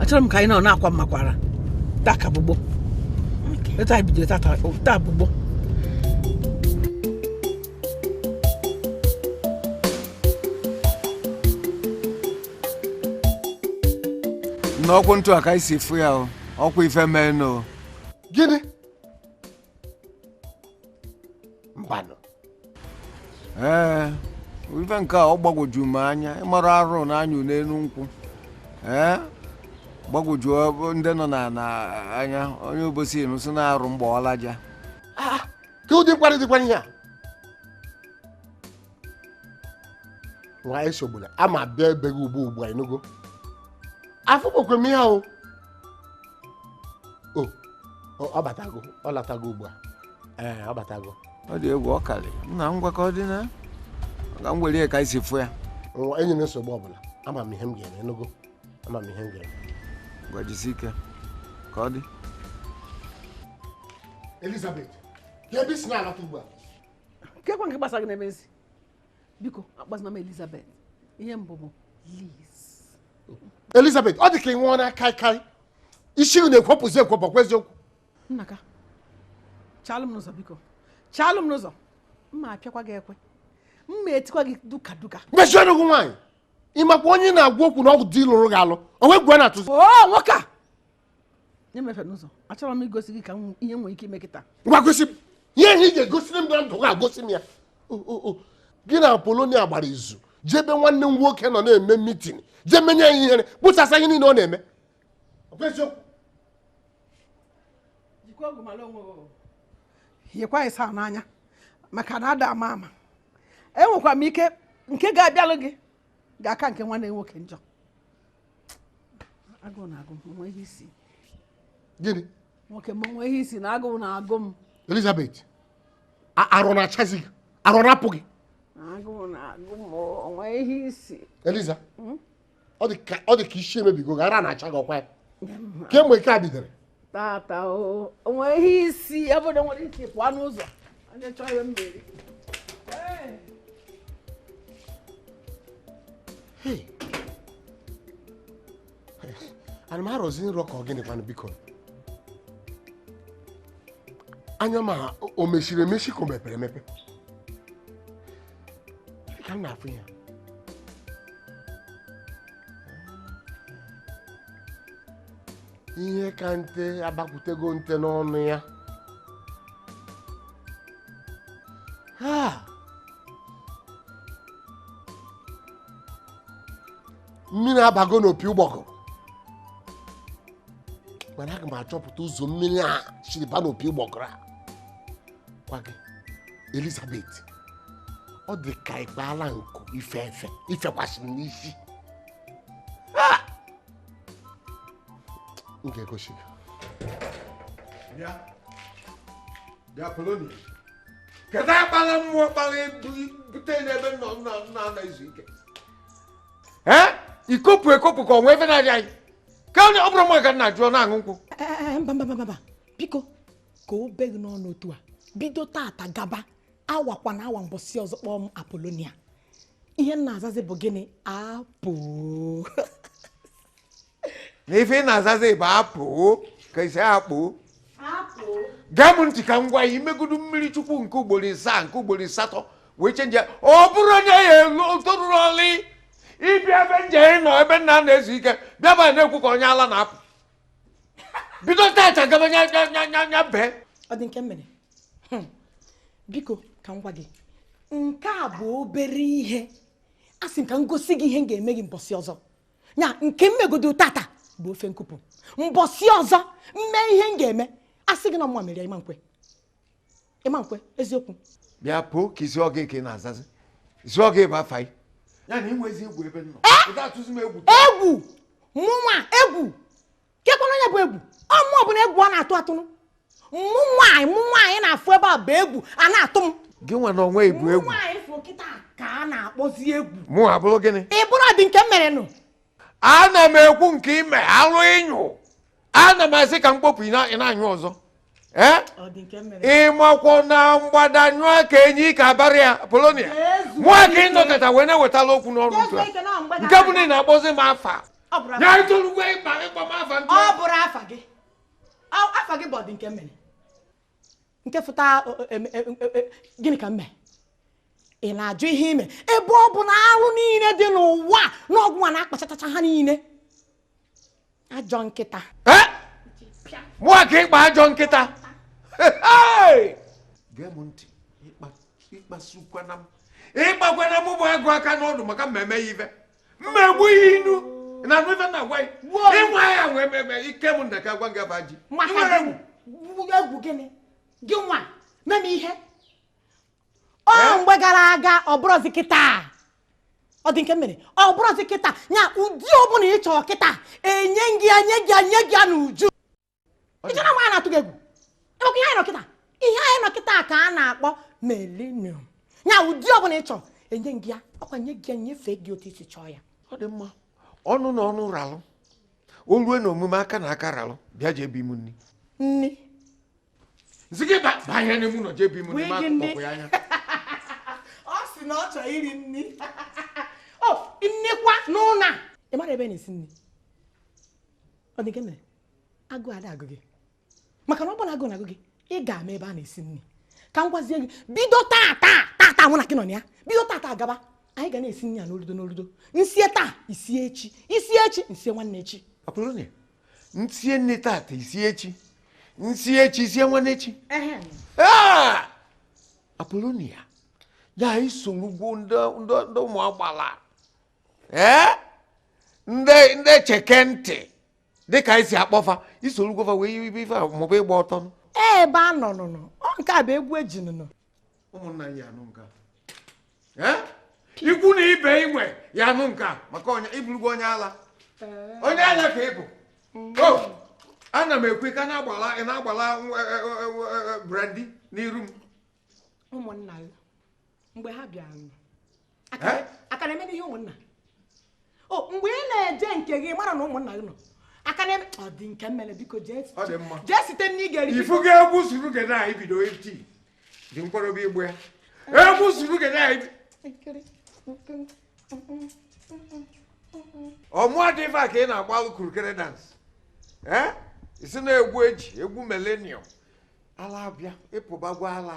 achọrọ m ka anyị nọ na-akwa mmakwara taa ka bụ gboo etu anyị bidoro tata taa bụ gboo nna ọkwa otu a ka anyị si fụ ya o ọkwa ife mee nụ gịnị mbanụ ee ife nke a ọ gbagwoju m anya ị mara arụ na-anyụ n'elu nkwụ ee gbagwoju ọ- ndị nọ n'ana anya onye Obosi nọ sị na arụ m gbaa ọlaja kee ụdị mkparị dịkwa ihe a nwa esogbula aga m abịa ebe gị ugbu ugbu a ịnụgo afụgokwa m ya o o o, ọ batago ọ latago ugbu a ee ọ batago ọ dị egwu ọ karị nna ngwa ka ọ dị na ka m were ya ka anyị si fụ ya nwa enwerọ nsogbu ọbụla ama m ihe m ga-eme ịnụgo ama m ihe m ga-eme ngwa jisi ike ka ọ dị Elizabeth kee ebe i si na-alata ugbu a kee kwa nke gbasara gị n'ebe m si biko akpọzina m Elizabeth ihe m bụ bụ Liz Elizabeth ọ dị ka ị ṅụọna kaikai isi gị na-ekwopụzi ekwopụ kwa eziokwu nnaka chalụ m n'ụzọ biko chalụ m n'ụzọ m ma-apịakwa gị ekwe m ma-etikwa gị duka duka mechie ọnụ gị nwaanyị ị makwa onye ị na-agwa okwu na ọ bụ di lụrụ gị alụ o nwe egwu a na-atụzi o nwoke a nye m efe n'ụzọ achọrọ m igosi gị ka m hụ ihe i nwere ike ime kịta ngwa gosi m ihe ihe ị ga-egosiri m na ndụ gị a gosi m ya O, o, o. gị na Apolonia gbara izu jee ebe nwanne m nwoke nọ na-eme mitin jee menye ya ihere kpọsasịa ihe niile ọ na-eme Ọ bụ eziokwu? jikwa ọgwụ mara onwe gị yekwa anyị saa n'anya maka na a da ama ama enwekwa m ike nke ga-abịalụ gị ga-aka nke nwanne gị nwoke njọ agụụ na-agụ m o nwe ihe i si gịnị nwoke m o nwe ihe i si na agụụ na-agụ m Elizabeth ara ọ na-achazi gị ara ọ na-apụ gị agụụ na-agụ m o nwe ihe i si Eliza hmm? ọ dị ka isi emebigo gị ara na-acha gị ọkwa ya kemgbe nke a bidoro tata o nwe ihe i si ya bụ nna were isi pụọ n'ụzọ onye chọọ ya mmeri ana m arọzi nrọ ka ọ gịnị kwanụ biko anya m a o mechiri emechi ka o mepere emepe ka m na-afụ ya ihe ka nte abakwutego nte n'ọnụ ya mmiri abago n'opi ụgbọgụrụ mana aga m achọpụta ụzọ mmiri a siri ba n'opi ụgbọgụrụ a gwa gị Elizabeth ọ dị ka ịkpaala nku ife efe ifekwasị m n'isi m ga-egosi gị bịa bịa polonia kedu akpala mmụọ kpala bute n'ebe nna na-ezu ike ee ikopụ ekopụ ka ọnwa ebe na-adị anyị ka onye ọ bụrụ mma ka nna jụọ na-aṅụ nkwụ mba mba mba biko ka o bee gị n'ọnụ otu a bido tata gaba anwakwana anwa mbọsị ọzọ kpọọ m apolonia ihe m na-azazi bụ gịnị apo na ife ị na-azazi bụ apo ka isi akpụ gee m ntị ka m gwa ya i megodu mmiri chukwu nke ugboro isaa nke ugboro asatọ wee chenjie ya ọ bụrụ onye ya elu toruru ọlị ịbịa ebe nje ị nọ ebe nna na-ezu ike bịaba na-ekwu ka onye ala na-apụ bido tata gaba nya nya nya nya nya bee Ọdịnkemere Hmm. biko ka m gwa gị nke a bụ obere ihe a sị m ka m gosi gị ihe m ga-eme gị mbọsị ọzọ ya nke m megodo tata bụ ofe nkụpụ mbọsị ọzọ m mee ihe m ga-eme a sị gị na ọ mụwa mere ya ị ma nkwe ị ma nkwe eziokwu bịa apo ka ị sị ọ gịnị ka ị na-azazi ị sị ọ gịnị bụ afa gị ya na i nwezi egwu ebe m nọ ị ga-atụzi m egwu egwu mụnwa egwu kekwanụ onye bụ egwu ọ mụ bụnụ egwu a na-atụ atụnụ mụnwa mụnwa ị na-afụ ebe a bụ egwu a na-atụ m gịnwa na onwe gị bụ egwu nwaanyị fụ kịta ka a na-akpọzi egwu mụ abụrụ gịnị ị bụrụ Ọdịnkemere nụ ana m ekwu nke ime alụ ị nyụ ana m asị ka m kpopụ ị na- ị na-anyụ ọzọ ee Ọdịnkemere ị makwa na mgbada nyụọ ka enyi ike abarie ya polonia Jesu. mụa ka ị nọkọta wee na-ewetala okwu n'ọnụ Jesu otu a ike na mgbada nke bụ na ị na-akpọzi m afa ọ bụrụ ya i tolugo ịkpa ịkpọ m afa ntu ọ bụrọ afa gị Ọ- afa gị bụ Ọdịnkemere nke fụta o- o- em- em- em- em- gịnị ka m mee ị na-ajụ ihe ime ebe ọ bụ na arụ niile dị n'ụwa na ọ gịnwa na-akpachatacha ha niile ajọ nkịta mụa ka ị kpọ ajọ nkịta gee m ntị ịkpasukwana m ịkpakwana m bụ agụ aka n'ọdụ maka m meme ya ife mma egbu ihe ị na-anụ ife m na-agwa ya ịnwa ya wee meme ike m ndeka gwa gị aba ji nwere egwu gịnị gịnwa mee m ihe ọ mgbe gara aga ọ bụrọzi kịta ọ dị nke mere ọ bụrọzi kịta ya ụdị ọbụla ị chọrọ kịta enye gị enye gị ya n'uju ịchọna nwa ya na-atụ gị egwu ịmakwa ihe anyị nọ kịta ihe anyị nọ kịta ka a na-akpọ millennium ya ụdị ọbụla ị chọrọ enye gị ya ọkwa nye gị ya nyefee gị otu isi chọọ ya ọ dị mma ọnụ na ọnụ ralụ o lue na omume aka na aka ralụ bịa jee bi mụ nri nri nsị gị banye n'ime ụnọ jee bi mụ nni ma akpọkwa ya anya ọ sị na ọ chọ iri nni ọ dịkwa n'ụnọ a ị mara ebe a na-esi nni ọ dị nke mere agụ ada agụ gị maka na ọ bụ na agụ na-agụ gị ị ga-ama ebe a na-esi nri ka m gwazie gị bido taa taa taa taa mụ na gị nọ na ya bido taa taa gaba anyị ga na-esi nri ya n'oludo n'oludo nsie taa isie echi isie echi nsie nwanne echi nsie nni tata isie echi nsie echi isie nwanne echi apolonia ya isolugo ndị ụmụ agbala ee ndị cheke ntị dịka isi akpọfa isolugo fa wee yibe ife maọbụ ịgba ọtọ ebe a nọ nụnụ ọ nke a bụ egwu eji nụnụ ụmụnna ya-anụ nke a ikwu na ibe i nwe ya-anụ nke a maka ịbụrụgo onye ala onye ala ka ị bụ ana m ekwu ka na-agbala ị na-agbala e, e, e, brandi n'iru m ụmụnna ya mgbe ha bịara aka na-eme ihe ụmụnna o mgbe ị na-eje nke gị mara na ụmụnna gị nọ aka na-eme ọ dị nke mere biko jee site nni ị ga-eri ifu ga egwu surugede anyị bido iti dị mkpọrọbi ịgba egwu surugede anyị ọmụọ dị ife a ka ị na-agbalụ kurukere dance isi na-egwu eji egwu millennium ala abịa ịpụbago ala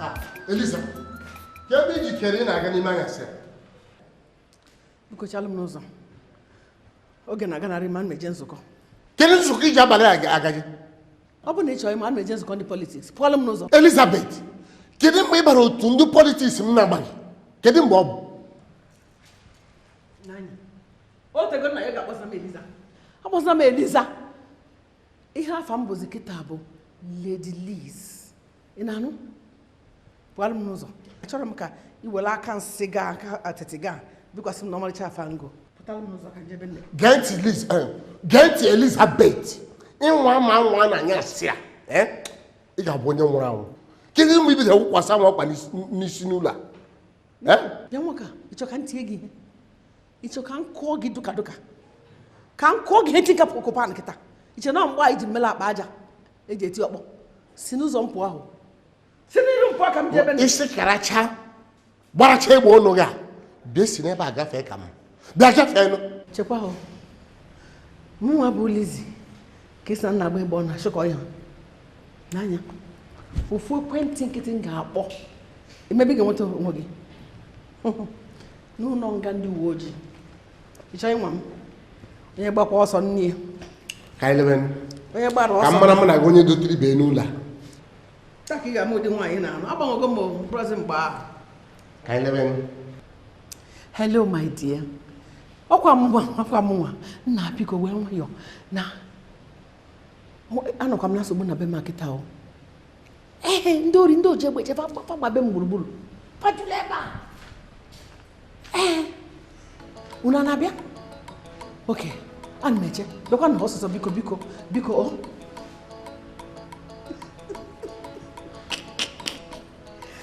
Ah, Eliza, kee ebe i jikere ị na-aga n'ime anyasị a? biko chaalụ m n'ụzọ oge na-aganarị m ana m eje nzukọ Kedu nzukọ iji abalị a ga-eje? ọ bụrụ na ị chọrọ ịma ana m eje nzukọ ndị politiks pụọlụ m n'ụzọ Elizabeth, kedu mgbe ị bara otu ndị politiks m na-amaghị? Kedu mgbe ọ bụ? o tego m na-agwa gị akpọzina m eliza akpọzina m eliza ihe afa m bụzi kịta bụ lady liz ị na-anụ pụalụ m n'ụzọ achọrọ m ka ị were aka nsị gị a aka atịtị gị a bikwasị m na ọmarịcha afe m o pụtara m n'ụzọ ka njebe nne gee ntị liz eh, gee ntị elizabeth ị nwaa m anwa n'anyasị a eh, ị ga-abụ onye nwụrụ anwụ kedu mgbe ibido wụkwasịwa m ọkpa n'isi n'ụlọ a eh? bịa nwoke ịchọ ka ntie gị ihe ịchọ ka m kụọ gị duka duka ka m kụọ gị ihe tinka kụrụ pan kịta iche na mgbe ahụ i ji m mela akpa aja eji eti ọkpọ si n'ụzọ m pụa ahụ si n'iru m pụa ka m jebe isi karacha gbaracha egbe ọnụ gị a bịa si n'ebe a gafee ka m bịa gafee nụ chekwa ahụ mụnwa bụ Lizzy ka ị sị na ị na-agba egbe ọ na-achụkọ ya n'anya ofu ekwentị nkịtị m ga-akpọ emebe ị ga-enweta onwe gị n'ụlọ nga ndị uwe ojii ịchọ ịnwa m onye gbakwa ọsọ nne ya ka anyị lebe onye gbara ọsọ ka amara mụ na gị onye dotere ibe n'ụlọ a taa ka ị ga-ama ụdị nwaanyị ị na-anụ agbanwego m ọ bụrọzi mgbe ahụ ka anyị lebe hello my dear ọkwa mụnwa ọkwa mụnwa nna biko wee nwayọọ na anọkwa m na nsogbu na be m kịta o ee ndị ori ndị oji egbe eje fa agbabe m gburugburu fa ejula ebe a ee unu a na-abịa okay ana m eche bịakwanụ ọsọsọ biko biko biko o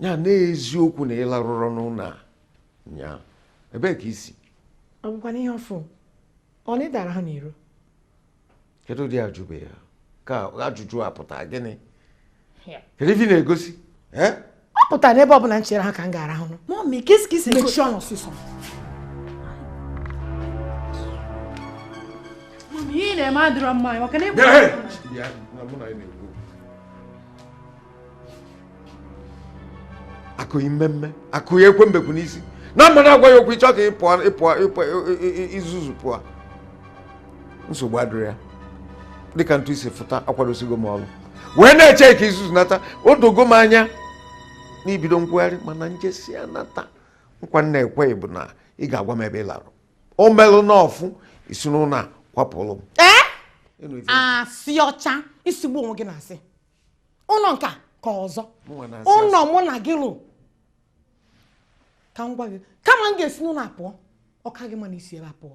ya n'eziokwu na ị larụrọ n'ụlọ a nyaa ebee ka i si ọ bụkwa n'ihe ọfụ ọ na ịdara ha n'iro kedu ụdị ajụbe ya ka ajụjụ a pụta gịnị kedu ife ị na-egosi ọ pụtara n'ebe ọ bụla m chere ha ka m ga-arahụrụ mummy kesi kesi mechie ọnụ ọsịsọ mummy ihe ị na-eme adịrọ mma anyị maka na ị bụ akụghị mmemme akụghị ekwe mbekwu n'isi na mmadụ agwa ya okwu ịchọ ka ị pụọ izuzu pụọ nsogbu adịrọ ya dịka ntụ isi fụta akwadosigo m ọrụ wee na-eche ka izuzu nata o dogo m anya na i bido nkwụgharị mana m jesịa nata nkwa m na-ekwe gị bụ na ị ga-agwa m ebe ị larụ o melụ n'ọfụ i si n'ụlọ a kwapụrụ m asị ọcha ị sịgbuo onwe gị n'asị ụlọ nka ka ọzọ ụlọ mụ na gị lụ ka m gwa gị kama m ga-esi n'ụlọ a pụọ ọ ka gị mma na i si ebe a pụọ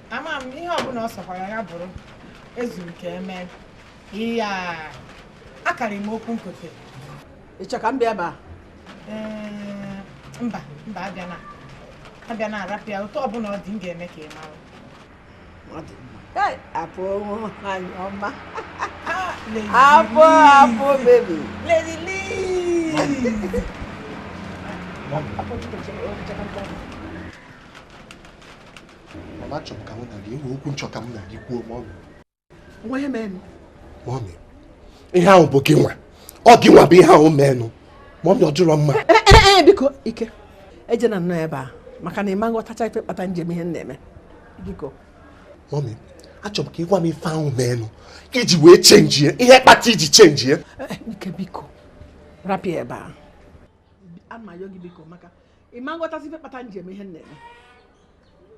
ama m ihe ọbụla ọ sọkwara ya bụrụ ezuru ka eme ihe a akarị m okwu nkịtị ịchọ ka m bịaba mba mba abịana abịana arapịa otu ọbụla ọ dị m ga-eme ka ị mara apụ nwaanyị ọma apụ apụ baby Lady Lee apụ mama chọrọ ka mụ na gị enwe okwu m chọ ka mụ na gị kwuo mọmị o nwe ihe menụ mọmị ihe ahụ bụ gị nwa ọ gị nwa bụ ihe ahụ menụ mọmị ọ dịrọ mma eh, eh, eh, biko ike ejena nnọọ ebe a maka na ị ma nghọtacha ife kpata m ji eme ihe m na-eme biko mọmị achọrọ m ka ị gwa m ife ahụ menụ i ji wee chenjie ihe kpata i ji chenjie ike biko rapụ ya ebe a a m ayọ gị biko maka ị ma nghọtazi ife kpata m ji eme ihe m na-eme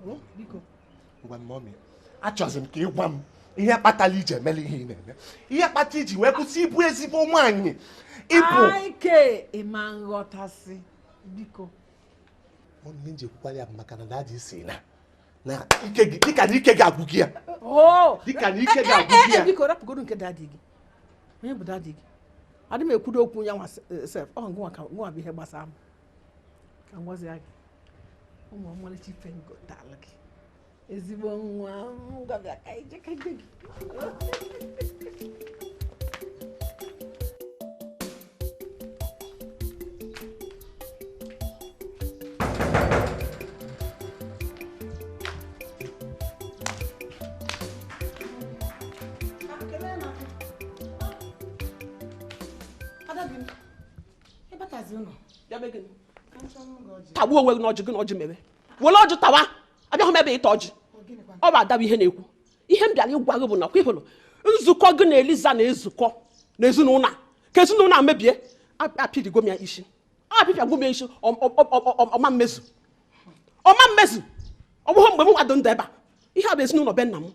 hmm? biko ngwa mọmi achọzi m ka ị gwa m ihe kpatara i ji emela ihe ị na-eme ihe kpata i ji wee kwụsị ịbụ ezigbo nwaanyị ị bụ ike ị ma nghọtazi biko ihe m ji ekwukwara ya bụ maka na dadi sị na na ike gị dịka na ike gị agwụgo ya oh! dịka na ike gị eh, eh, agwụgo eh, ya biko rapụgodu nke dadi gị onye bụ dadi gị adị m ekwudo okwu ya nwa sef ọ ngụnwa bụ ihe gbasara m ka m gwazi gị o nwe ọmalịcha ife m gotala gị ezigbo nwa m ngwa bịa ka i je ka i je gị tagbuo onwe gị n'ọjị gị n'ọjị mere were ọjị tawa abịahụ m ebe ịta ọjị ọ bụ ada wụ ihe na-ekwu ihe m bịara ịgwa gị bụ na ọkwa ị hụrụ nzukọ gị na eliza na-ezukọ n'ezinụlọ a ka ezinụlọ a mebie apịpịago m ya isi apịpịagwo m ya isi ọ ma mmezu ọ ma mmezu ọ bụghị mgbe mụ nwa dị ndụ ebe a ihe a bụ ezinụlọ be nna m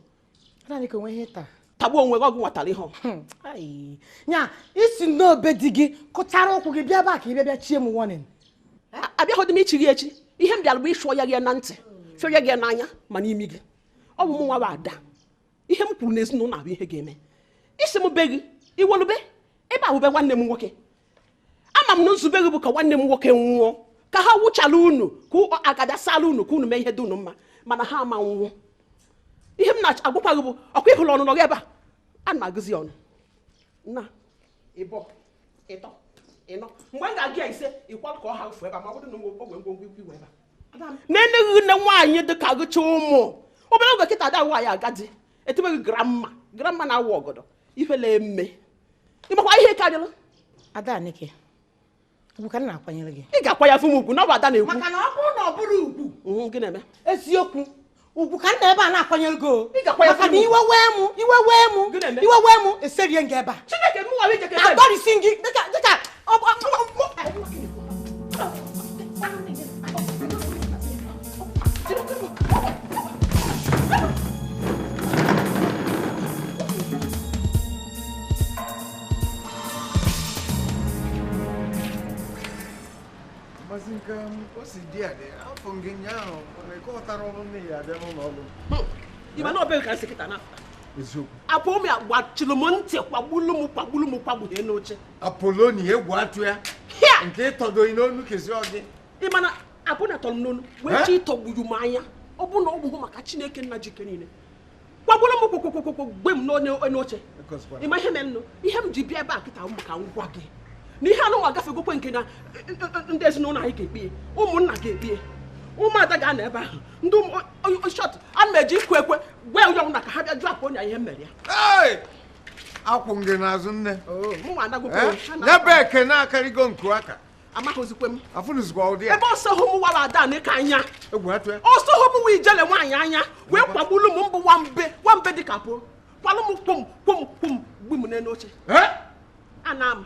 naanị ka o nwe ihe taa tagbuo onwe gị ọgụ nwatara ihe hmm. ya i si na be di gị kụchara ụkwụ gị bịa ebe a ka ị bịa bịa chie m warning abịaghịdị m ichi gị echi ihe m bịara bụ ịsụọ ya gị na ntị sụọ ya gị n'anya ma n'imi gị ọ bụ m nwa bụ ada ihe m kwuru n'ezinụlọ a bụ ihe ga-eme ị sị m be gị i nwelu be ebe a wụ be nwanne m nwoke ama m na nzube gị bụ ka nwanne m nwoke nwụọ ka ha wụchala unu ka agada sala unu ka unu mee ihe dị unu mma mana ha ama nwụọ ihe m na-agwakwa gị bụ ọkwa ị hụrụ ọnụnọ gị ebe a ana m agụzi ọnụ nnaa ịbọ ịtọ ịnọ mgbe m ga-agụ ya ise ị kwalụ ka ọ ha fụ ebe a ma ọ bụrụ na ogwe ngwongwo ikwu iwe ebe a na-enyeghị nne nwaanyị dị ka gị chị ụmụ obere oge kịta ada nwaanyị agadi etebeghị grandma grandma na-awụ ọgọdọ ifele mme ị makwa ihe karịrị ada n'ike ugwu ka m na-akwanyere gị ị ga-akwanyefụ m ugwu na ọ bụ ada na-ekwu maka na ọ bụrụ na ọ bụrọ ugwu mhm, gị na-eme eziokwu ugwu ka m nọ ebe a na-akwanyere gị o maka na iwe wee mụ iwe wee mụ iwe wee mụ eserie m gị ebe a adọrisie m gị dịka Maazị nke o si dị adị afụ gị nyaahụ na ịkọtara ọrụ nne ya abịa n'ụlọ ọrụ ịma na ọ bụghị ka nsị kịta na eziokwu Apolonia gbachiri m ntị kwagbulu m kwagbulu m kwagbughee n'oche Apolonia egwu atụ ya nke ịtọdo gị n'onu kezi ọgị ị ma na Apolonia tọrọ m n'onu wee chọ ịtọgbu m anya ọ bụ na ọ bụghị maka chineke nna ji ike niile kwagbulu m kwụkwụkwụkwụ gbu m n'enu oche ịma ihe mere nụ ihe m ji bịa ebe a kịta bụ ka m gwa gị na ihe a nụnwa agafegokwa nke na ndị ezinụlọ anyị ga-ekpie ụmụnna ga-ekpie ụmụada ga-anọ ebe ahụ in short ana m eje ịkụ ekwe gwa onye ọbụna ka ha bịa jụ Apolonia ihe m mere ya akwụ m gị n'azụ nne nyebe oh, ekene akarịgo nku aka amaghịzikwe m afụnụzikwa ụdị ya ebe ọ sọhọ mụwa Adaneke anya ọ sọhọ mụwa ijele nwaanyị anya wee kwagbulu m mbụ nwambe nwambe dịka pụ kwalụ m kwom kwom kwom gbu m n'elu oche ana m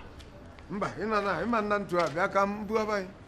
mba ịma nna ntu a bịa ka m bugaba anyị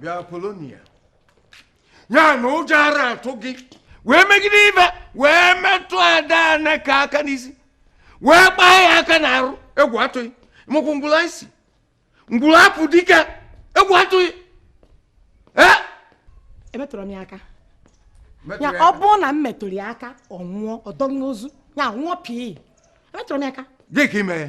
bịa Polonia ya na ụjọ ara atụ gị wee megide ive wee metụ Adaneke aka n'isi wee kpaa ya aka n'arụ egwu atụghị mụkwụ ngwụla isi ngwụla apụ dike egwu atụghị emetụrụ m ya aka ya ọ bụrụ na m metụrụ ya aka ọ nwụọ ọ dọghị ozu ya nwụọ pii emetụrụ m ya aka gị ka ime ya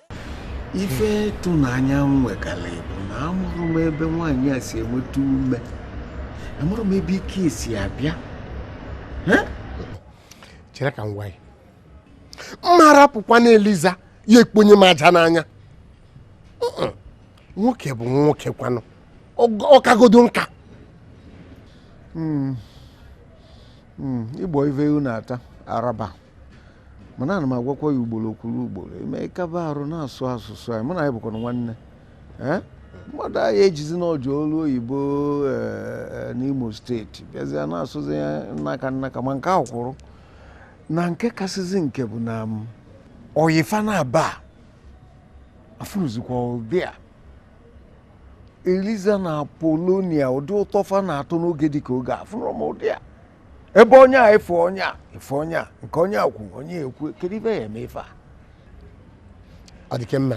ife ịtụnanya m nwekarị bụ na amarọ m ebe nwaanyị a si enweta ume amarọ m ebe ike si abịa chere ka m gwa gị m ma rapụkwanụ Eliza ya ekponye m aja n'anya nwoke bụ nwoke kwanụ ọ kagodu Nka hmm. Hmm. ịgbọ ive unu ata araba mana ana m agwakwa gị ugboro kwuru ugboro eme kaba arụ na-asụ asụsụ anyị mụ na gị bụkwanụ nwanne ee mmadụ anaghị ejizi na o je ọlụ oyibo ee, n'Imo steeti bịazie na-asụzi ya nnaka nnaka ma nke ahụ kwụrụ na nke kasịzi nke bụ na m oyifa na aba afụnụzikwa ụdị a Eliza na Apolonia ụdị ụtọ fa na-atọ n'oge dịka oge a, afụnụrọ m ụdị a ebe onye a efe onye a efe onye a nke onye a kwu onye ekwu kedu ive a ya-eme fa ọ dị ka m ma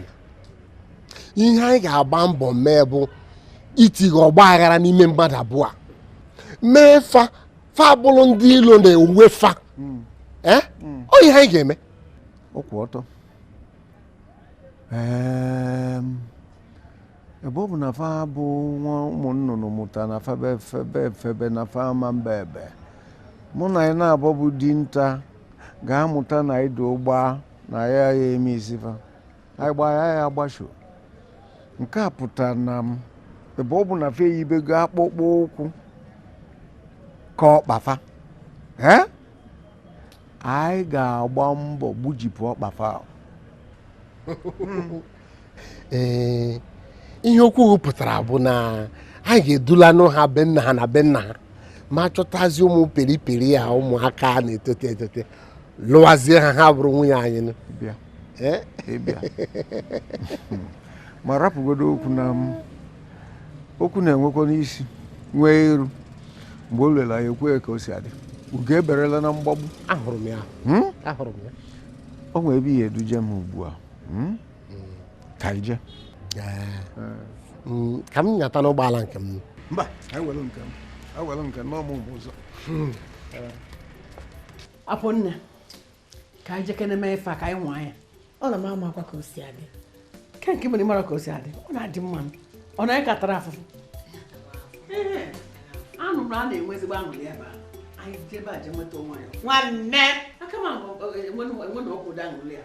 ihe anyị ga-agba mbọ mee bụ itinye ọgba aghara n'ime mmadụ abụọ a mee fa fa abụrụ ndị ilo n'onwe fa hmm. eh? hmm. ọ ihe anyị ga-eme ọkwụ ọtọ ebe ọ bụ na fa bụ nwa ụmụ nnụnụ mụta na febe febe febe na fa ama mba ebe mana anyị na-abọ bụ dinta ga-amụta na anyị dị ụgba na ya ya eme isi fa anyị gbaa ya ya agbasho nke a pụtara na m ebe ọ bụ na fa eyibego akpụkpọ ụkwụ ka ọkpa fa ee anyị ga-agba mbọ gbujipụ ọkpa fa ahụ ee ihe okwu hụ pụtara bụ na anyị ga-edulanụ ha be nna ha na be nna ha ma chọtazi ụmụ periperi a ụmụaka a na-etote etote lụwazie ha ha bụrụ nwunye anyị nụ. bịa Eh? ịbịa ma rapụgodo okwu na m okwu na-enwekwanụ isi nwee iru mgbe o ruru anyị ekwuo ka o si adị ugo eberela na mgbagbu ahụrụ m ya Hmm? ahụrụ m ya o nwee ebe ị ya-eduje m ugbu a Hmm? ka anyị jee Mm, ka m nyatanụ ụgbọala nke m mba anyị were nke m anyị were nke m na ọ mụ mgbe ụzọ apụ nne ka anyị jekene mee ife a ka anyị nwaa ya ọ na m amakwa ka o si adị ke nke mere mara ka o si adị ọ na-adị mma m ọ na anyị ka tara afụfụ Ee, anụ m na a na-enwe ezigbo aṅụrị ebe a anyị jebe aje nweta onwe anyị nwanne aka ma enwe na ọkwụdo aṅụrị ya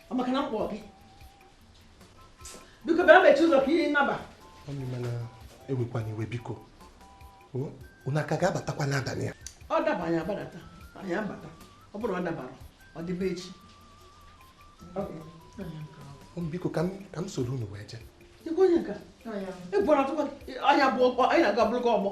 ọ maka na m kpọọ gị biko bịa mechi ụzọ ka anyị naba mami mana ewekwana iwe biko unu a ka ga-abatakwa n'abalị a ọ daba anyị agbadata anyị abata ọ bụrụ ọ dabarọ ọ dịbe echi biko ka m soro unu wee jee ikwe onye nka ịbụrụ atụkwa anya bụ ọkpọ anyị na-aga bụrụ gị ọgbọ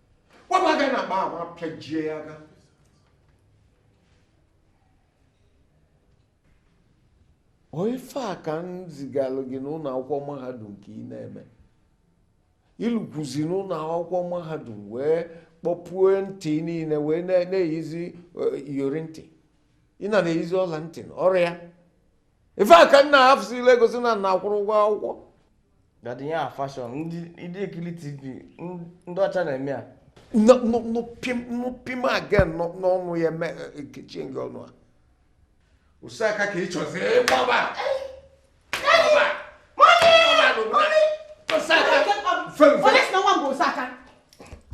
wepụ aka n'akpa ahụ apịajie ya aka ọ ife a ka m zigalụ gị n'ụlọ akwụkwọ mahadum ka ị na-eme i lukwuzi n'ụlọ akwụkwọ mahadum wee kpọpue ntị niine wee na-eyizi e, iyori ntị ị na na-eyizi ọla ntị ọrịa ife a ka m na-afụzi ile egosi na m na-akwụrụ ụgwọ akwụkwọ dadi ya fashion ndị ndị ekiri tv n- ndị ọcha na-eme ya nụ pim again nọ- n'ọnụ ya m ekechie ngị ọnụ a osaka ka ị chọzi ịgbaba Onye sị na nwa m bụ Osaka?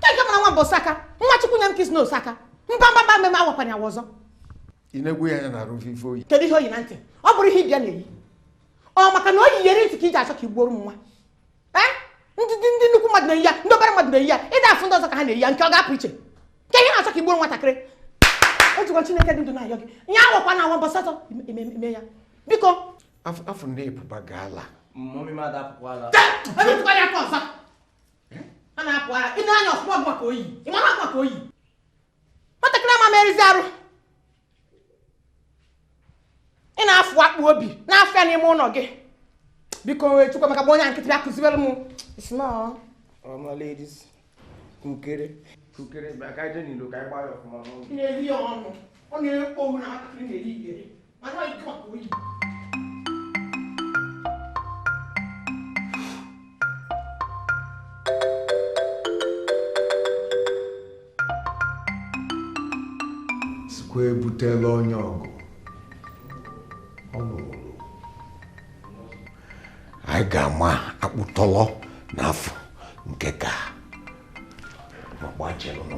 Keke mara nwa m bụ Osaka? Nwa Chukwu nye m ka ị sị na Osaka? Mba mba mba mmemme awakwanye awa ọzọ. ị na-egwu ya anya na arụ ife o yi kedu ihe o yi na ntị ọ bụrọ ihe ibe ya na-eyi ọ maka na o yi iyeri ntị ka i ji achọ ka i gbuoro m nwa eh? ndị ndị nnukwu mmadụ na-eyi ya ndị obere mmadụ na-eyi ya ị da afụ ndị ọzọ ka ha na-eyi ya nke ọ ga-apụ iche ka ihe na-achọ ka i gbuoro nwatakịrị ejikwa Chineke dị ndụ na-ayọ gị ya awakwa na awa mbọsị atọ ime ya biko afọ na ebuba gaala a na-apụ ara ị na-anya ọfụma maka oyi ị mara maka oyi nwatakịrị ama merụzi arụ ị na-afụ akpụ obi na-afụ ya n'ime ụlọ gị biko wee chukwa maka onye nkịtị bịa kụziwere m isnọ all my ladies kukere kukere bịa ka i je n'ilo ka anyị gbaa ya ọfụma n'ụlọ na-eri ya ọnụ ọ na-ekpo na akụkụ na-eri igere sikwa ebutela onye ọgụ ọ lụrụ anyị ga-ama akpụtọlọ n'afọ nke ka ma gbachelụnụ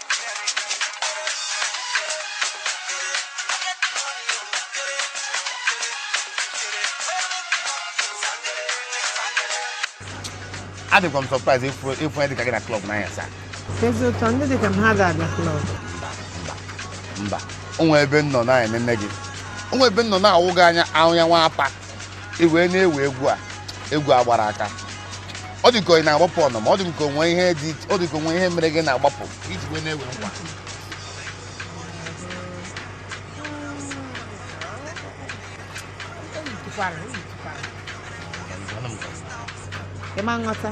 adịkwa m surprise ịfụ ya dịka gị na club n'anyasị a ezi ụtọ ndị dịka m ha ga-abịa club mba o nwee ebe m nọ na-enene gị o nwee ebe m nọ na-awụ gị anya ahụ ya nwa apa i wee na-ewe egwu a egwu a gbara aka ọ dị ka ị na-agbapụ ọnụma ọ dị ka o nwe ihe dị ọ dị ka o nwe ihe mere gị na-agbapụ i ji wee na-ewe egwu a Ị ma aghọta?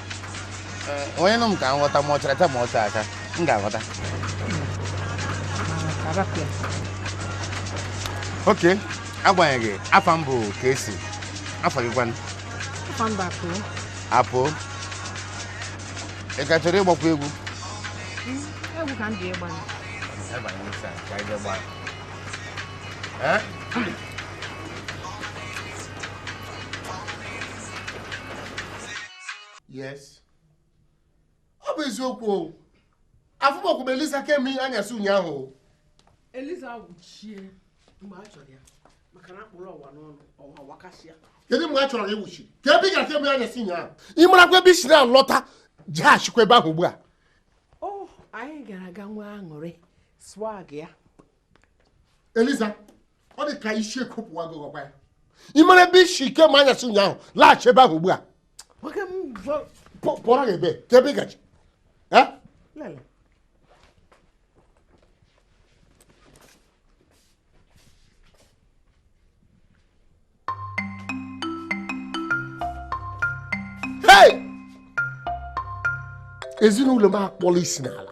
onye nụ m ka m ghọta ma ọ chara taa ma ọcha aka m ga-aghọta ok agbanyeghị afa m bụ Casey afa gị kwanụ apụ ị ka chọrọ ịgbakwa egwu egwu ka m ji ịgba ee yes ọ bụ eziokwu o afụbọkwu m eliza kemgbe anyasị ụnyaahụ eliza wuchie mgbe a chọrọ ya maka na akpụrụ ọwa n'ọnụ ọwa wakasịa kedu mgbe a chọrọ gị wuchi kee ebe ị gara kemgbe anyasị ụnyaahụ ị marakwa ebe i si na-alọta jeghachikwa ebe ahụ ugbu a anyị gara aga nwa aṅụrị swag ya eliza ọ dị ka isi ekopụwa gị ọkwa ya ị mara ebe isi kemgbe anyasị ụnyaahụ laghachi ebe ahụ ugbu a pụọrọ gị ebe ka ebe ị gaji ezinụlọ m akpọla isi n'ala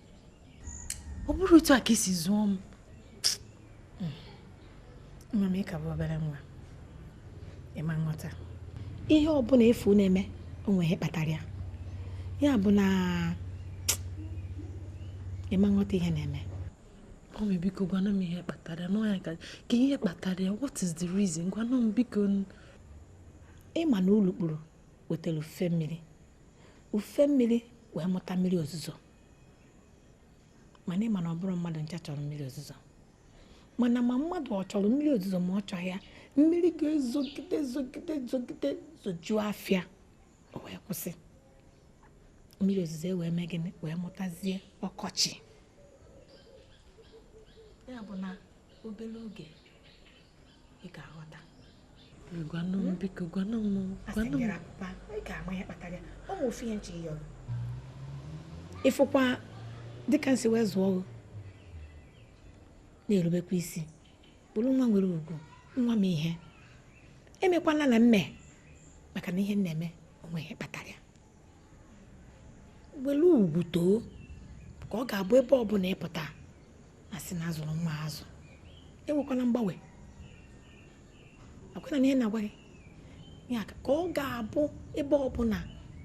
ọ bụrọ otu a ka esi zụọ m nwa m ịka bụ obere nwa ịma nghọta ihe ọbụla ị fụ na-eme o nwe ihe kpatara ya ya bụ na ịma nghọta ihe na-eme mọmi biko gwanụ m ihe kpataranụ ya kee ihe kpatara ya what is the reason gwanụ m biko ịma na ulukpuru wetara ufe mmiri ufe mmiri wee mụta mmiri ozuzo mana ịma na ọ bụrọ mmadụ ncha chọrọ mmiri ozuzo mana ma mmadụ ọ chọrọ mmiri ozuzo ma ọ chọghị ya mmiri ga-ezogide zogide zogide zojuo afịa o wee kwụsị mmiri ozuzo e wee mee gịnị wee mụtazie ọkọchị ya bụ na obere oge ị ga-aghọta gwanụ m biko gwanụ m gwanụ m papa ị ga-ama ihe kpatara ya ọ bụ ofu ihe nche ya ọrụ ịfụkwa dịka m si wee zụọ gị na-erubekwa isi bụrụ nwa nwere ugwu nwa m ihe emekwana na mme maka na ihe m na-eme o nwe ihe kpatara ya were ugwu too ka ọ ga-abụ ebe ọbụla ịpụta a na-asị na azụrụ nwa a azụ enwekwana mgbanwe akwena na ihe na-agwa gị ya ka ọ ga-abụ ebe ọbụla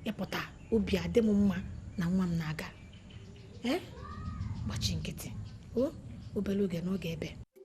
ịpụta obi adị m mma na nwa m na-aga ee gbachi nkịtị o obere oge n'oge ebe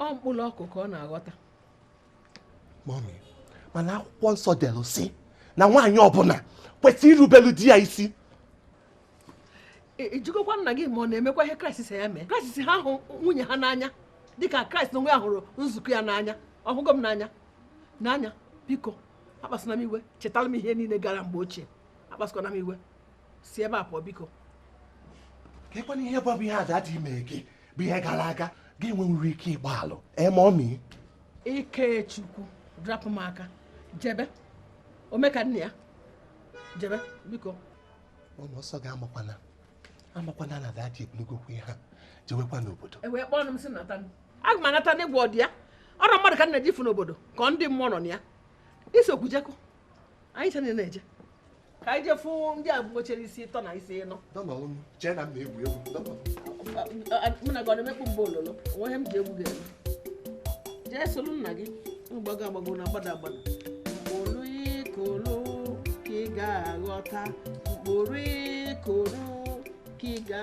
ọ mkpụrụ ọkụ ka ọ na-aghọta mọmi mana akwụkwọ nsọ delu si na nwaanyị ọbụla kwesịrị irubelu di ya isi ịjụgokwa nna gị ma ọ na-emekwa ihe kraịst si ya mee kraịst si ha hụ nwunye ha n'anya dịka kraịst onwe ya hụrụ nzukọ ya n'anya ọhụgo m n'anya n'anya biko akpasịna m iwe chetara m ihe niile gara mgbe ochie akpasịkwana m iwe si ebe a pụọ biko kekwanụ ihe bụ ihe dadị me gị bụ ihe gara aga gị enwenwurọ ike ịgbaghalụ e mọmi ikechukwu rapụ m aka jebe omeka nne ya jebe biko ụlọ ọsọ gị amakwana amakwana na dadị ebulugokwu ihe ha jewekwa n'obodo ewee kpọọ m si nata aga m anata ngwa ọdị ya ọrọ mmadụ ka m na-eje ịfụ n'obodo ka ọ ndị mmụọ nọ na ya isokwu je ka anyị ncha na-eje ka anyị jefu ndị a nwechara isi ịtọ na isi ịnọ chee na m na-egwu egwu mụ na gị ọ na-emekpu mgbe ololo o nweghị ihe m ji egwu ga-eme jee soro nna gị mgbago agbago na-agbada agbada mkpụrụ ikoro ka ị ga-aghọta mkpụrụ ikoro ka ị ga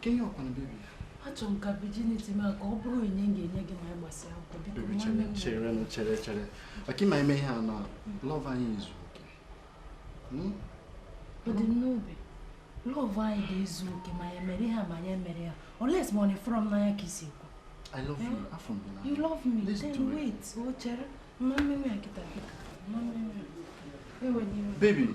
kedu ihe ọ kwanụ baby ya achọrọ m ka virginity m ka ọ bụrụ onyinye m ga-enye gị ma anyị gbasịa akwụkwọ biko baby nwanne chere m chere nụ, chere chere maka ịma ime ihe a na love anyị ezu oke Hmm? ọ dị m n'obi love anyị ga-ezu oke ma anyị mere ihe a ma anyị emerọ ya unless ma ọ na ị fụrọ m n'anya ka i si ekwu I love you Eh? afọ mgbe na you love me Let's then do it. wait o chere ama m eme ya kịta biko ama m eme ya ewena iwe baby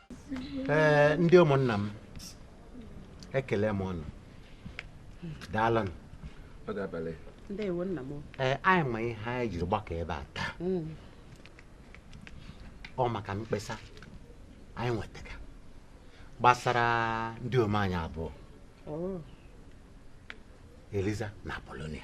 ee ndị ụmụnna m ekele m unu daalụnụ ee anyị ma ihe anyị jiri gbakọ ebe a taa hmm. ọ maka mkpesa anyị nwetara gbasara ndịom anyị abụọ oh. Eliza na Apolonia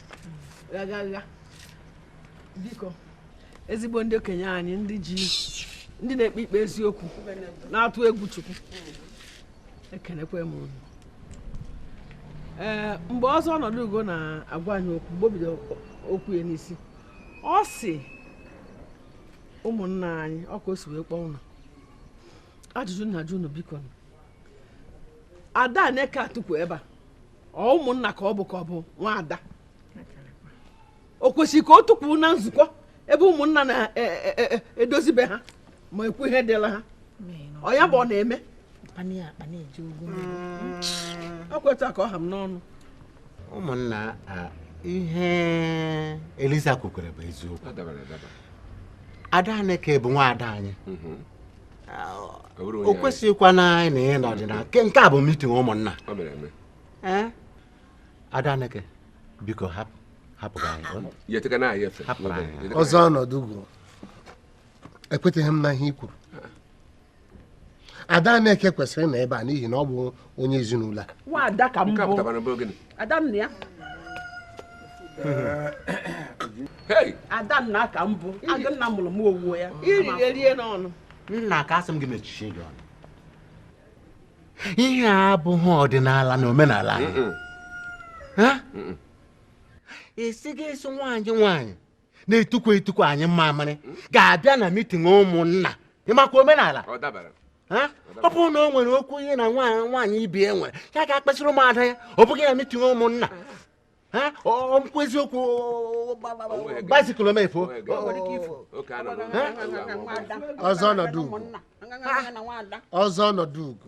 gagaga biko ezigbo ndị okenye anyị ndị ji ndị na-ekpe ikpe eziokwu na-atụ egwu Chukwu ekenekwe m unu ee mgbe Ọzọ Ọnọdụugo na-agwa anyị okwu mgbe o bido okwu ya n'isi ọ sị ụmụnna anyị ọ ka o si wee kpọọ unu ajụjụ m na-ajụ unu biko Adaneke a tukwu ebe a ọ ụmụnna ka ọ bụ ka ọ bụ nwaada o kwesịrị ka o tukwu na nzukọ ebe ụmụnna na-edozibe e, e, e, ha ma ekwu ihe dịla ha ọ ya bụ ọ na-eme ọ kwa etu a ka ọ ha m n'ọnụ ụmụnna ihe Eliza kwukwere bụ eziokwu Adaneke bụ nwaada anyị mhm. o kwesịghịkwanụ ịnọ ebe a n'ọdịnala nke a bụ meeting ụmụnna Adaneke biko hapụ hapụrụ anyị Ọzọ Ọnọdụugo ekweteghị m n'ihe i kwuru Adaneke kwesịrị ịnọ ebe a n'ihi na ọ bụ onye ezinụlọ a nwaada ka m bụ adanna ya adanna ka m bụ adanna mụrụ m owuwe ya iririe n'ọnụ nna ka asị m gị mechie gị ọnụ ihe a abụghị ọdịnala na omenala anyị a sị gị a sị nwaanyị nwaanyị na-etukwu etukwu anyụ mmamịrị ga-abịa na mitin ụmụnna ị makwa omenala ọ bụrụ na o nwere okwu ya na nwaanyị ibe ya nwere ya gaa kpesịrị ụmụada ya ọ bụghị na mitin ụmụnna ọ bụkwa eziokwu baịsikụl omefu ọzọ ọnọdụ ugo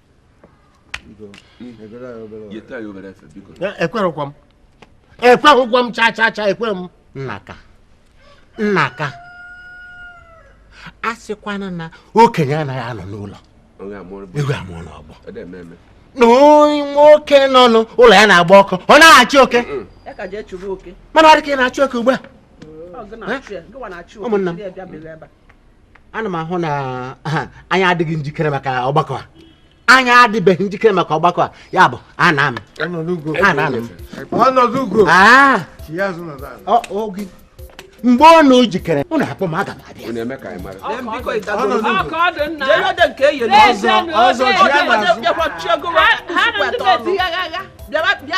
ekwerekwa m ekweghịkwa m cha cha cha ekwe m nnaka nnaka a sịkwanụ na okenye anaghị anọ n'ụlọ ewu amụọ n'ọgbụ na onye nwoke nọ n'ụlọ ya na-agba ọkụ ọ naghị achụ oke mana ọ dị ka ị na-achụ oke ugbu a ụmụnna m ana m ahụ na anyị adịghị njikere maka ọgbakọ a anyị adịbeghị njikere maka ọgbakọ a ya bụ anaa m mgbe unu jikere unu akpọọ m aga m abịa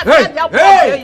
Hey! Hey!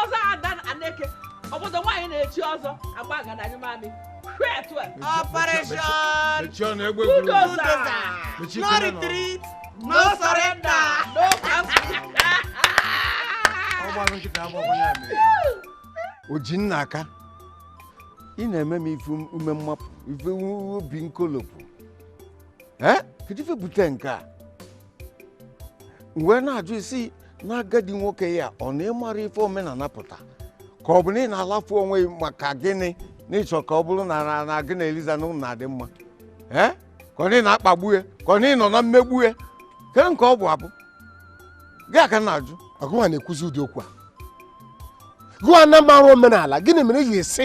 ọzọ ada aneke obodo nwaanyị na-echi ọzọ agba agadanyụ mamị Operation Bulldozer. No retreat, no surrender. No Ojinnaka ị na-eme m ife ume mmapụ ife obi nkolopụ ee kedu ife bute nke a mgbe na-ajụ ị sị na agadi nwoke ya ọ na ị mara ife omenala pụta ka ọ bụ na ị na-alafu onwe gị maka gịnị na ị chọ ka ọ bụrụ na na na gị na Eliza na ụnụ na-adị mma ee ka ọ na ị na-akpagbu ya ka ọ na ị nọ na mmegbu ya ke nke ọ bụ ọ bụ gị ka m na-ajụ gụwa na-ekwuzi ụdị okwu a gụwa na mara omenala gịnị mere ị ga-esi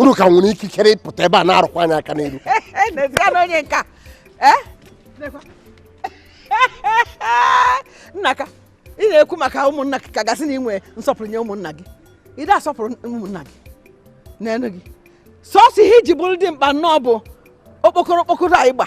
unu ka nwere ikikere ịpụta ebe a na-arụkwa anyị aka n'iru onye nka eh? nnaka ị na-ekwu maka ụmụnna gị ka a ga-asị na ị nwee nsọpụrụ nye ụmụnna gị ị da-asọpụrụ ụmụnna gị nene gị sọsọ ihe i ji bụrụ dimkpa nnọọ bụ okpokoro okpokoro a ị gba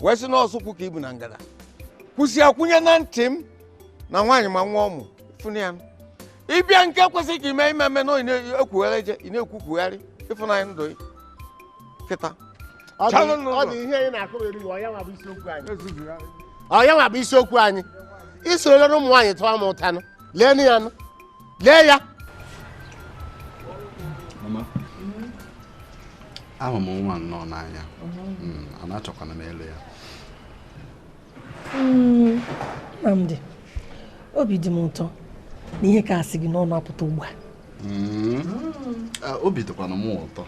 wee sị na osukwu ka i bu na ngada kwụsị akwụnye na ntị m na nwaanyị ma nwa ọ mụ fụnụ ya ị bịa nke kwesịrị ka ime ime mme na ị na-ekwugharị eje ị na-ekwukwugharị ịfụnanya ndụ gị kịta Ọ dị- Chalụ n'ụzọ. ọ dị ihe anyị na-akọgheri ọ ya nwa bụ isiokwu anyị ọ ya nwa bụ isiokwu anyị i soro ụmụ nwaanyị taa m ụta nụ lee nụ ya nụ lee ya ahụ m nwa nnọọ n'anya hmm, a na-achọkwanụ m ịlụ ya hmm, Nnamdi obi dị m ụtọ na ihe ka a si gị n'ọnụ apụta ugbu a hmm. ah, obi dịkwanụ m ụtọ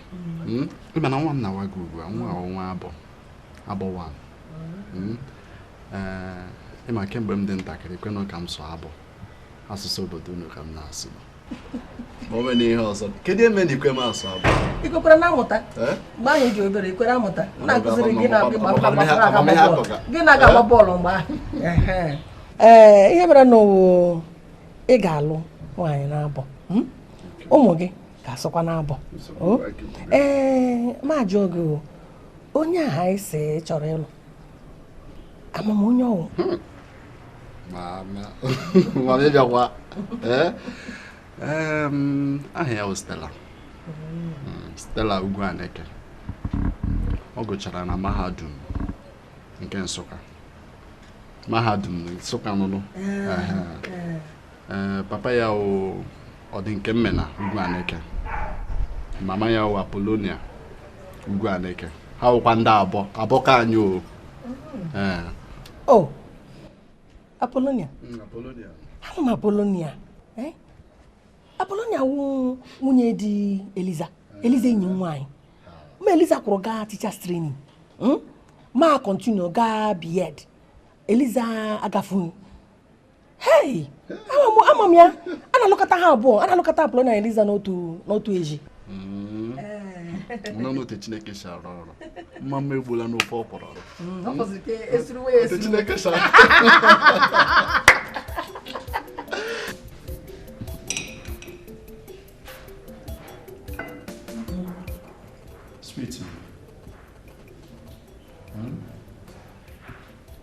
ịma na nwa m na-agwa gị ugbu a nwa wụ onye Abọ Abọ nwa eh, ị ma kemgbe m dị ntakịrị kwenụ ka m sụọ Abọ asụsụ obodo unu ka m na-asụ ma o nwere ihe ọzọ kedu ihe mere na ikwe m asụ Abọ ikwekwara na-amụta eh? mgbe ahụ ị dị obere ikwere amụta na-akụziri gị na-agba eh? bọọlụ mgbe ahụ ee eh, ihe mere na ị ga-alụ nwaanyị n'Abọ hmm? ụmụ gị ga-asụkwa n'Abọ oh? ee ma jụọ gị onye ahụ ị sị ị chọrọ ịlụ ama m onye ọ wụ hmm. aha ya wụ Stella hmm, Stella Ugwuaneke ọ gụchara na mahadum nke Nsụka mahadum Nsụka nụnụ ee papa ya wụ ọdịnkemmena ugwu aneke mama ya wụ apolonia ugwu aneke ha wụkwa ndị Abọ Abọ ka anyị o ee o apolonia mm, apolonia ama m apolonia eh? apolonia wụ nwunye di eliza eliza enyi nwaanyị ma eliza kwụrụ gaa teachers training hmm? ma continue gaa B.Ed eliza agafu hei ama m ya a na-alụkọta ha abụọ a na-alụkọta apolonia na eliza n'otu n'otu ezi hmm. nọ n'otu chineke si arụ ọrụ mma mma egbula n'ofe ọ kwọrọ ọrụ hmm, otu chineke si arụ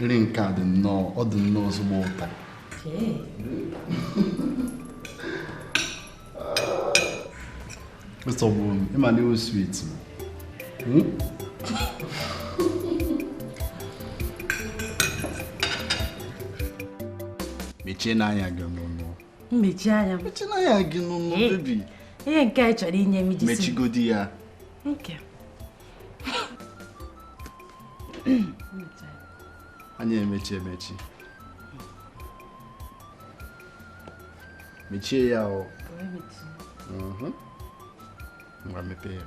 nri nke a dị nnọọ ọ dị nnọọ ezigbo ụtọ Mr. Bun, ị ma na ị wụ sweet. Hmm? Mechienụ anya gị nụ. M mechie anya m. Mechienụ anya gị nụ, eh, bebi. Ihe nke a ị chọrọ inye m iji si. Mechigodi ya. Nke. anyị emechi emechi mechie ya o mhm. ngwa mepee ya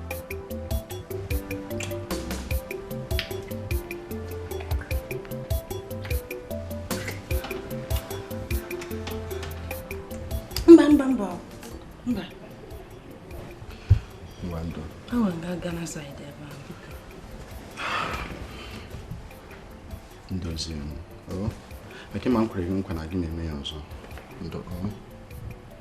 mba mba mba mba awa nga aga na saịdị ebe ahụ ndozi m eke ma m kwere gị nkwa na agaghị m eme ya ọzọ ndo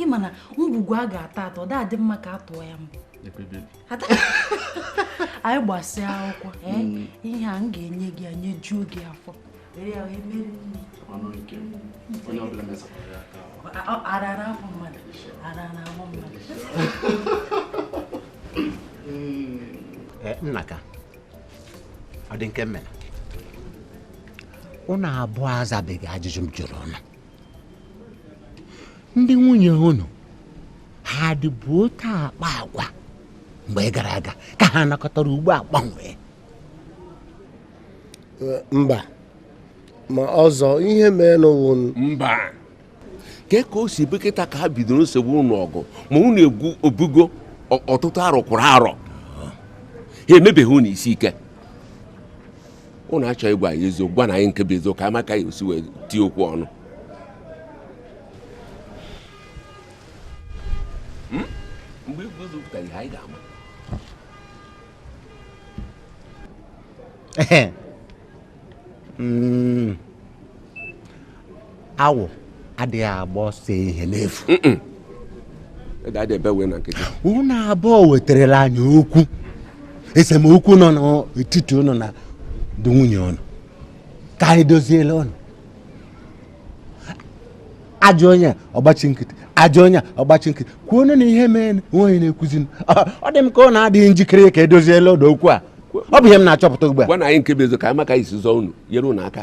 ị ma na ngwugwu a ga-atọ atọ adịghị mma ka a tụọ ya mbọ anyị gbasịa akwụkwọ eh, mm. ihe a m ga-enye gị enyejuo gị afọ arara afọ mmadụ arara afọ mmadụ eh, nnaka ọ dị nke mere ụnụ abụọ azabeghị ajụjụ m jụrụ ụnụ ndị nwunye unu ha dịbu otu a akpa agwa mgbe gara aga ka ha nọkatara ugbu a gbanwee eh, mba ma ọzọ ihe mee n'ụwụ mba kee ka o si ebe kịta ka ha bidoro nsogbu ụnụ ọgụ ma unu egwu ọ bụgo ọtụtụ arọ kwụrụ arọ ha emebeghị unu isi ike ụnụ achọghị ịgwa anyị eziokwu gwanụ anyị nke bụ eziokwu ka a ma ka a ya-esi wee tie okwu ọnụ hmm? mgbe igwe ụzọ pụtara ihe anyị ga-ama hmm. awọ adịghị agba ọsọ ehihie n'efu unu abụọ wetarala anyị okwu esemokwu nọ n'etiti ụnụ na ndị nwunye ụnụ ka anyị doziela ụnụ a jụọ onye ọ gbachi nkịtị a jụọ onye ọ gbachi nkịtị kwuo onye na ihe mee nwaanyị na-ekwuzi ọ dị m ka ụnụ adịghị njikere ka e doziela ụnụ okwu a ọ bụ ihe m na-achọpụta ugbu a gwanụ anyị nke bụ eziokwu ka anyị ma ka e si zọọ unu nyere unu aka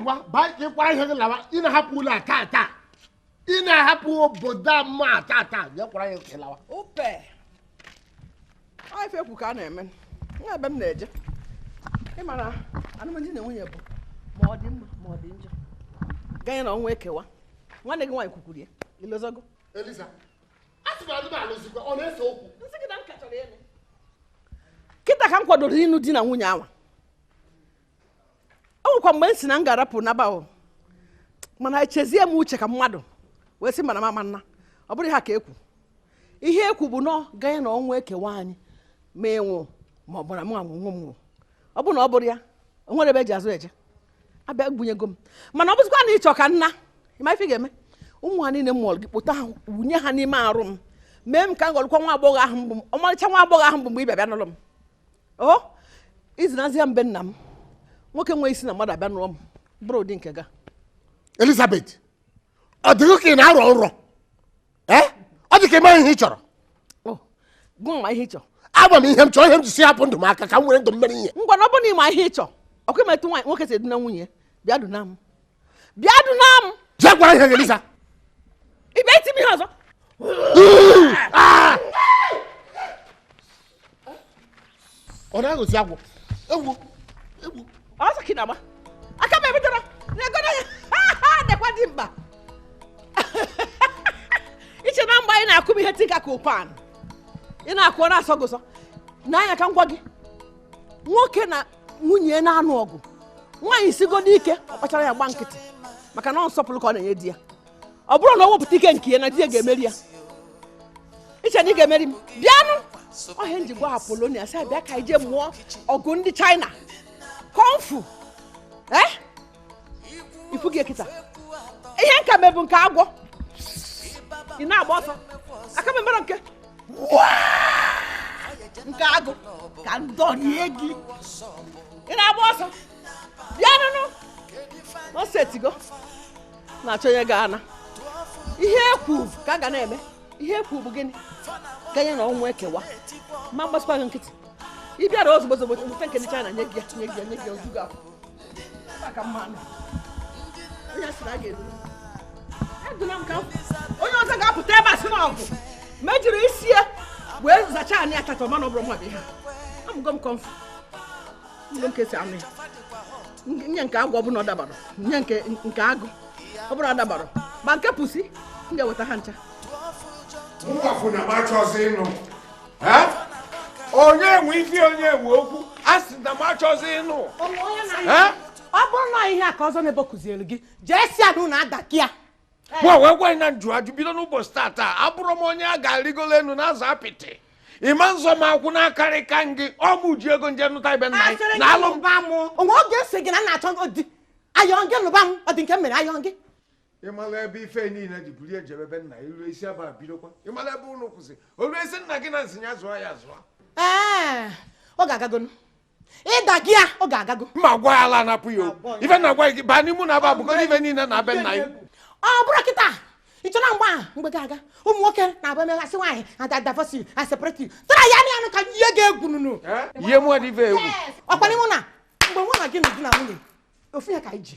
ngwa baa ka ị kwara ihe gị lawa ị na-ahapụ ụlọ a taa taa ị na-ahapụ obodo ọma a taa taa ya kwara ya ka ị lawa upe ife ekwu ka a na-eme o nweghị ebe m na-eje ị mara anụm di na nwunye bụ ma ọ dị mma ma ọ dị njọ ganye na ọnwụ ekewa nwanne gị nwaanyị kwukwuru ya i lozogo eliza asị m anụmanụ zikwa ọ na-ese okwu kịta ka m kwadoro ịnụ di na nwunye anwa o nwekwa mgbe m si na m ga-arapụ naba o mana echezie m uche ka mmadụ wee sị mba na mba na ọ bụrụ ha ka ekwu ihe ekwu bụ nọ ganye na ọnwụ ekewa anyị ma ịnwụ ma ọ bụrụ m anwụ nwe m nwụ ọ bụ na ọ bụrụ ya o nwere ebe eji azụ eje abịa gbunyego m mana ọ bụzikwa na ị chọ ka m naa ị ma ife ga-eme ụmụ a niile m mụọlụ gị kpụta ha wunye ha n'ime arụ m mee m ka m ghọrọkwa nwa agbọghọ ahụ m bụ ọmarịcha nwa agbọghọ ahụ m bụ mgbe ị bịa bịa n'ụlọ m o izinazia mbe nna m nwoke wee sị na mmadụ abịa nụọ m bụrụ ụdị nke gị elizabeth ọ dị gị ka ị na-arọ nrọ ee ọ dị ka ị maghị ihe ị chọrọ ọ gị ama ihe ị chọrọ ama m ihe m chọrọ ihe m ji si hapụ ndụ m aka ka m were ndụ m mere ihe ngwanu ọ bụ na ị ma ihe ị chọrọ ọkwa ị ma etu nwoke si eduna nwunye bịa duna m bịa duna m jee gwara ihe Eliza ị bịa iti m ihe ọzọ ọ na-aghọzi agwọ egwu egwu ọsọ ka ị na-agba aka m ebidoro na-egodo ya dekwa dị mkpa i che na mgbe ahụ ị na-akụ m ihe tinka ka ọ pan ị na-akụ ọ na-asọ gị ụsọ n'anya ka m gwa gị nwoke na nwunye na-anụ ọgụ nwaanyị sigodu ike ọ kpachara anya gba nkịtị maka na ọ nsọpụrụ ka ọ na-enye di ya ọ bụrụ na o wepụta ike nke ya na di ya ga-emeri ya i che na ị ga-emeri m bịanụ ọ ihe m ji gwa apolonia sị ya bịa ka ije mụọ ọgụ ndị china kung fu ee eh? i fugo kịta ihe m ka mebu nke agwọ ị na-agba ọsọ aka m emero nke nke agụ ka m dọrie gị ị na-agba ọsọ bịanụnụ ọ setigo na-achọ onye ga-ana ihe ekwu ka a ga na-eme ihe ekwu bụ gịnị ganye na ọnwụ ekewa ma m gbasịkwa gị nkịtị ị bịara ozugbo ozugbo bute nke ndị China nye gị ya nye gị ya nye gị ya o ju gị afọ ma ka m manụ onye sịrị a ga-edu eduna m ka onye ọzọ ga-apụta ebe a sị na ọgụ m ejiri isi ya wee zachaa anị tata mana ọ bụrụ mmadụ ihe amụgo m kung fu mgbe m kesi anụ ya nye nke agwọ ọ bụrụ na ọ dabarọ nye nke nke agụ ọ bụrụ na ọ dabarọ ma nke pusi m ga-eweta ha ncha. Mụ afụ na m achọzi ịnụ. onye nwe ife onye nwe okwu a sị na m achọzi ịnụ ọ bụrụ na ihe a ka ọzọ na-ebe kụziere gị jee si anụ na adakia nwa wee gwa na m jụ ajụ bido n'ụbọchị tata abụrọ m onye a ga-arịgolo elu na-azọ apịtị ị ma-azọ m ọkwụ na-akarị ka gị ọ mụ ji ego m je nụta ibe nna anyị na alụ mba mụ o nwe oge m sị gị na m na-achọ di ayọ gị nụba m ọ dị nke m mere ayọ gị ị mala ebe ife niile ji bulie jebe ebe nna ilu isi ebe bidokwa ị mala ebe ụlọ kwụsị olu esi nna gị na nsị ya zụọ ya zụọ ee ọ ga-agagonu ịda gị a ọ ga-agago ma gwa ya ala anapụ ya okwu ife na-agwa gị baa n'ime na aba abụgo ife niile na be nna ya ọ bụrụ kịta ị chọna mgbe ahụ mgbe gị aga ụmụ nwoke na-abụ emeghasị nwaanyị ada divorce a separate tara ya anụ ka ihe ga-egwu nunu ihe mụọ dị ife egwu ọkwa ị ma na mgbe mụ na gị na di na nwunye ofu ihe ka anyị ji